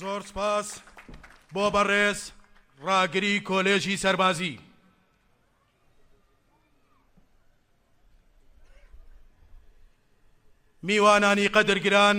زۆر سپاس بۆ بەڕێز ڕاگری کۆلێژی سەربازی میوانانی قەدرگران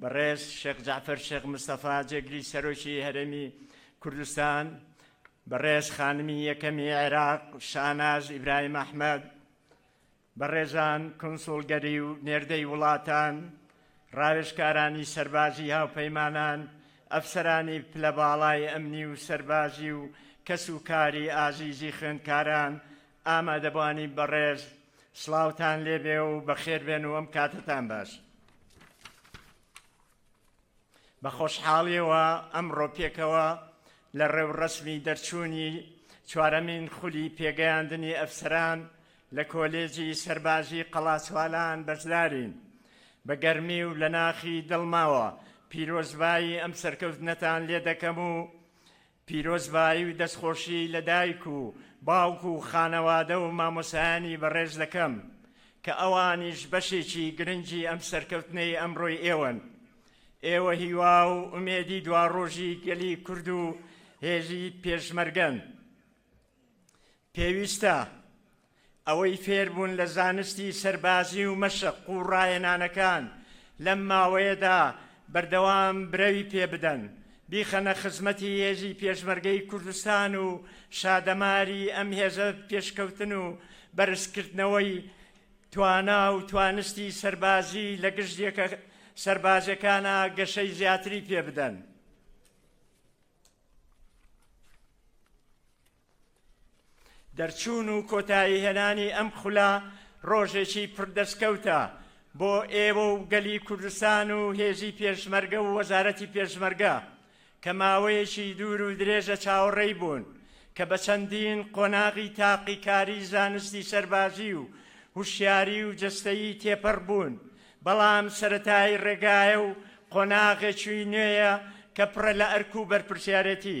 بەڕێز شێخ جەعفەر شێخ مستەفا جێگری سەرۆکی هەرێمی کوردستان، بەڕێز خانمی یەکەمی عێراق شاناز ئیبراهیم ئەحمەد، بەڕێزان کونسوڵگەری و نێردەی وڵاتان، ڕاوێژکارانی سەربازی هاوپەیمانان، ئەفسەرانی پلە باڵای ئەمنی و سەربازی و کەس و کاری ئازیزی خوێندکاران، ئامادەبانی بەڕێز سڵاوتان لێبێ و بەخێربێن و ئەم کاتتان باش. بە خۆشحاڵیەوە ئەمڕۆ پێکەوە لە ڕێوڕەسمی دەرچوونی چوارەمین خولی پێگەیاندنی ئەفسەران لە کۆلێجی سەربازی قەڵاسوالان بەشدارین بە گەرمی و لە ناخی دڵماوە پیرۆزبایی ئەم سەرکەوتنەتان لێ دەکەم و پیرۆزبایی و دەستخۆشی لە دایک و باوک و خانەوادە و مامۆسایانی بەڕێز دەکەم کە ئەوانیش بەشێکی گرنگی ئەم سەرکەوتنەی ئەمڕۆی ئێوەن. ئێوە هیوا و ئومێدی دواڕۆژی گەلی کورد و هێزی پێشمەرگەن. پێویستە ئەوەی فێربوون لە زانستی سەربازی و مەشق و ڕاهێنانەکان لەم ماوەیەدا بەردەوام برەوی پێ بدەن، بیخەنە خزمەتی هێزی پێشمەرگەی کوردستان و شادەماری ئەم هێزە پێشکەوتن و بەرزکردنەوەی توانا و توانستی سەربازی لە گشت یەکە سەربازیەکانا گەشەی زیاتری پێ بدەن. دەرچوون و کۆتایی هێنانی ئەم خولە ڕۆژێکی پڕ دەستکەوتە بۆ ئێوە و گەلی کوردستان و هێزی پێشمەرگە و وەزارەتی پێشمەرگە کە ماوەیەکی دوور و درێژە چاوەڕێی بوون کە بە چەندین قۆناغی تاقیکاری زانستی سەربازی و هوشیاری و جستەیی تێپەڕ بوون بەڵام سەتای ڕێگایە و قۆناغێکی نوێیە کە پڕە لە ئەرک و بەرپرسیارەتی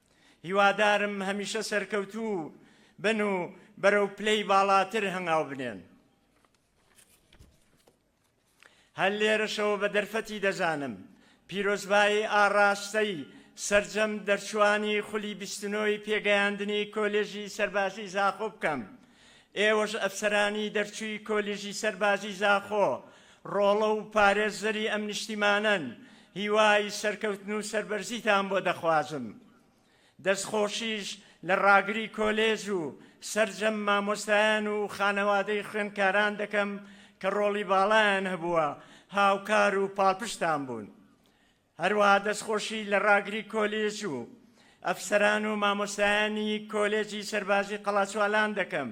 هیوادارم هەمیشە سەرکەوتوو بن و بەرەو پلەی باڵاتر هەنگاو بنێن. هەر لێرەشەوە بە دەرفەتی دەزانم پیرۆزبایی ئاڕاستەی سرجەم دەرچوانی خولی بیستنۆی پێگەیاندنی کۆلێژی سەربازی زاخۆ بکەم ئێوەش ئەفسەرانی دەرچووی کۆلیژی سەربازی زاخۆ ڕۆڵە و پارێزەری ئەم نیشتیمانەن، هیوای سەرکەوتن و سەربەرزیتان بۆ دەخوازم. دەستخۆشیش لە ڕاگری کۆلێژ و سەرجەم مامۆستایان و خانەوادەی خوێندکاران دەکەم کە ڕۆڵی باڵایان هەبووە، هاوکار و پاڵپشتتان بوون. هەروەها دەستخۆشی لە راگری کۆلێج و ئەفسەران و مامۆستایانی کۆلێجی سەربازی قەڵاچوالان دەکەم،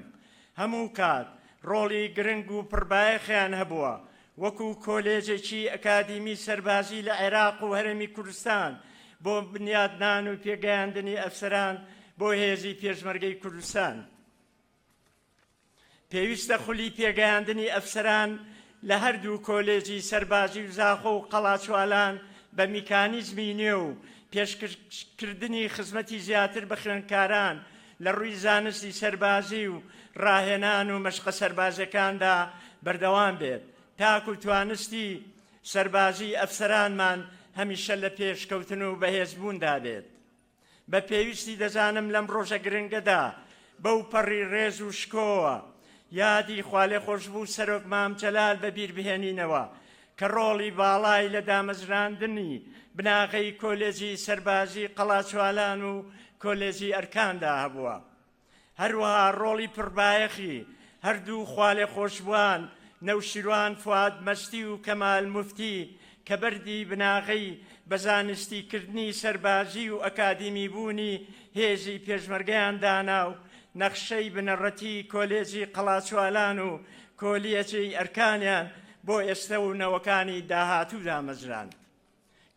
هەموو کات رۆڵی گرنگ و پڕ بایەخیان هەبووە وەکو کۆلێجێکی ئەکادیمی سەربازی لە عێراق و هەرێمی کوردستان بۆ بنیادنان و پێگەیاندنی ئەفسەران بۆ هێزی پێشمەرگەی کوردستان. پێویستە خولی پێگەیاندنی ئەفسەران لە هەردوو کۆلێجی سەربازی و زاخۆ و قەڵاچوالان بە میکانیزمی نوێ و پێشکردنی خزمەتی زیاتر بە خوێندکاران لە ڕووی زانستی سەربازی و ڕاهێنان و مەشقە سەربازیەکاندا بەردەوام بێت تاکو توانستی سەربازی ئەفسەرانمان هەمیشە لە پێشکەوتن و بەهێزبووندا بێت. بە پێویستی دەزانم لەم ڕۆژە گرنگەدا بەوپەڕی ڕێز و شکۆوە یادی خوالێخۆشبوو سەرۆک مام جەلال بە بیر بهێنینەوە کە ڕۆڵی باڵای لە دامەزراندنی بناغەی کۆلێجی سەربازی قەڵاچوالان و کۆلێجی ئەرکاندا هەبووە. هەروەها ڕۆڵی پڕبایەخی هەردوو خوالێخۆشبووان نەوشیروان فواد مەستی و کەمال موفتی کە بەردی بناغەی بە زانستیکردنی سەربازی و ئەکادیمیبوونی هێزی پێشمەرگەیان دانا و نەخشەی بنەڕەتی کۆلێجی قەڵاچوالان و کۆلیەجی ئەرکانیان بۆ ئێستە و نەوەکانی داهاتوو دامەزراند.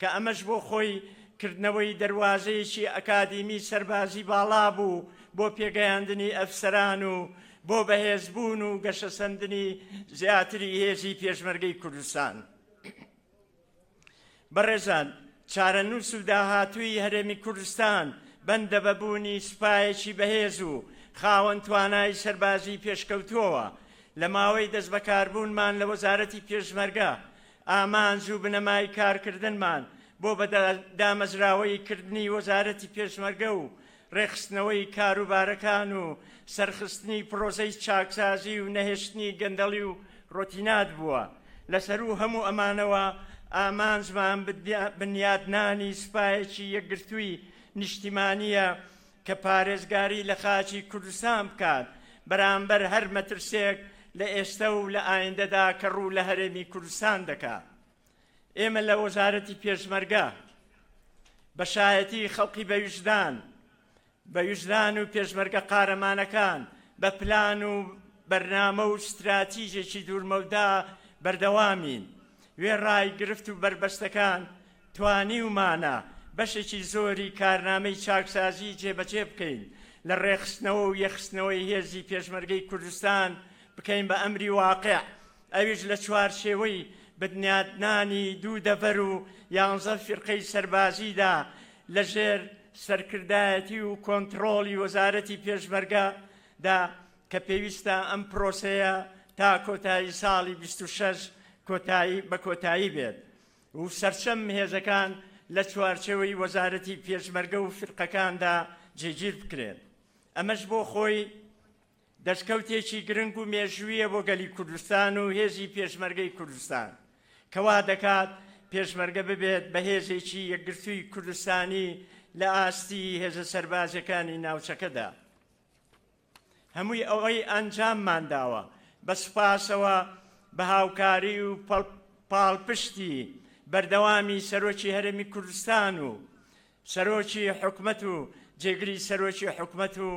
کە ئەمەش بۆ خۆی کردنەوەی دەروازەیەکی ئەکادیمی سەربازی باڵا بوو بۆ پێگەیاندنی ئەفسەران و بۆ بەهێزبوون و گەشەسەندنی زیاتری هێزی پێشمەرگەی کوردستان. بەڕێزان چارەنووس و داهاتووی هەرێمی کوردستان بەندە بە بوونی سوپایەکی بەهێز و خاوەن توانای سەربازی پێشکەوتووەوە، لە ماوەی دەستبەکاربوونمان لە وەزارەتی پێشمەرگە، ئامانج و بنەمای کارکردنمان بۆ بە دامەزراوەیی کردنی وەزارەتی پێشمەرگە و ڕێکخستنەوەی کاروبارەکان و سەرخستنی پڕۆسەی چاکسازی و نەهێشتنی گەندەڵی و ڕۆتینات بووە، لە سەروو هەموو ئەمانەوە ئامانجمان بنیادنانی سوپایەکی یەکگرتووی نیشتیمانییە کە پارێزگاری لە خاکی کوردستان بکات بەرامبەر هەر مەترسێک لە ئێستە و لە ئایندەدا کە ڕوو لە هەرێمی کوردستان دەکا. ئێمە لە وەزارەتی پێشمەرگە بە شایەتی خەڵقی بە ویژدان بە ویژدان و پێشمەرگە قارەمانەکان بە پلان و بەرنامە و ستراتیژێکی دوورمەودا بەردەوامین وێڕای گرفت و بەربەستەکان توانیومانە بەشێکی زۆری کارنامەی چاکسازی جێبەجێ بکەین، لە ڕێکخستنەوە و یەکخستنەوەی هێزی پێشمەرگەی کوردستان بکەین بە ئەمری واقیع، ئەویش لە چوارچێوەی بنیاتنانی دوو دەڤەر و یانزە فیرقەی سەربازیدا لە ژێر سەرکردایەتی و کۆنتڕۆڵی وەزارەتی پێشمەرگە دا کە پێویستە ئەم پرۆسەیە تا کۆتایی ساڵی بیست و شەش کۆتایی بە کۆتایی بێت. و سەرجەم هێزەکان لە چوارچێوەی وەزارەتی پێشمەرگە و فیرقەکاندا جێگیر بکرێن، ئەمەش بۆ خۆی دەستکەوتێکی گرنگ و مێژوویە بۆ گەلی کوردستان و هێزی پێشمەرگەی کوردستان کە وا دەکات پێشمەرگە ببێت بە هێزێکی یەکگرتووی کوردستانی لە ئاستی هێزە سەربازیەکانی ناوچەکەدا. هەمووی ئەوەی ئەنجاممان داوە بە سوپاسەوە بە هاوکاری و پاڵپشتی بەردەوامی سەرۆکی هەرێمی کوردستان و سەرۆکی حکومەت و جێگری سەرۆکی حکومەت و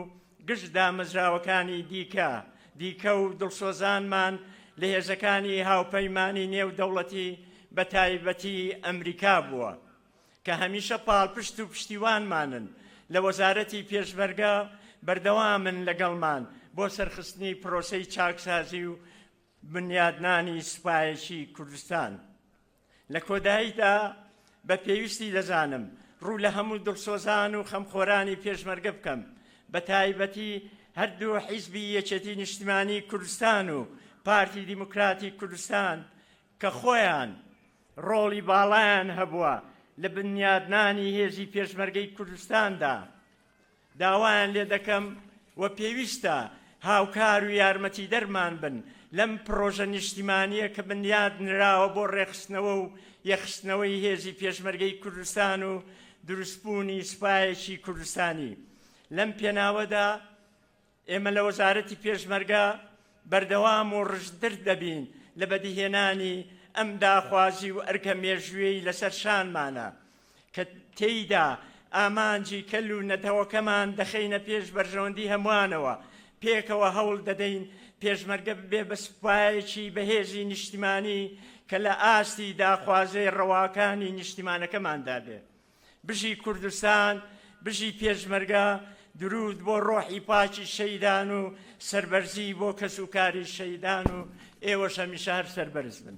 گشت دامەزراوەکانی دیکە دیکە و دڵسۆزانمان لە هێزەکانی هاوپەیمانی نێو دەوڵەتی بە تایبەتی ئەمریکا بووە کە هەمیشە پاڵپشت و پشتیوانمانن، لە وەزارەتی پێشمەرگە بەردەوامن لەگەڵمان بۆ سەرخستنی پرۆسەی چاکسازی و بنیادنانی سوپایەکی کوردستان. لە کۆداییدا بە پێویستی دەزانم ڕوو لە هەموو دڵسۆزان و خەمخۆرانی پێشمەرگە بکەم، بە تایبەتی هەردوو حیزبی یەکێتی نیشتیمانی کوردستان و پارتی دیموکراتی کوردستان، کە خۆیان ڕۆڵی باڵایان هەبووە لە بنیادنانی هێزی پێشمەرگەی کوردستاندا، داوایان لێ دەکەم و پێویستە هاوکار و یارمەتیدەرمان بن لەم پڕۆژە نیشتیمانییە کە بنیاد نراوە بۆ ڕێکخستنەوە و یەکخستنەوەی هێزی پێشمەرگەی کوردستان و دروستبوونی سوپایەکی کوردستانی. لەم پێناوەدا ئێمە لە وەزارەتی پێشمەرگە بەردەوام و ڕژدتر دەبین لە بەدیهێنانی ئەم داخوازی و ئەرکە مێژوویەی لەسەر شانمانە کە تێیدا ئامانجی کەل و نەتەوەکەمان دەخەینە پێش بەرژەوەندی هەمووانەوە، پێکەوە هەوڵ دەدەین پێشمەرگە ببێ بە سوپایەکی بەهێزی نیشتیمانی کە لە ئاستی داخوازیی ڕەواکانی نیشتیمانەکەماندا بێ. بژی کوردستان بژی پێشمەرگە درود بۆ ڕۆحی پاچی شەیدان و سربەرزی بۆ کەس و کاری شەیدان و ئێوەش هەمیشە هەر سەربەرز بن.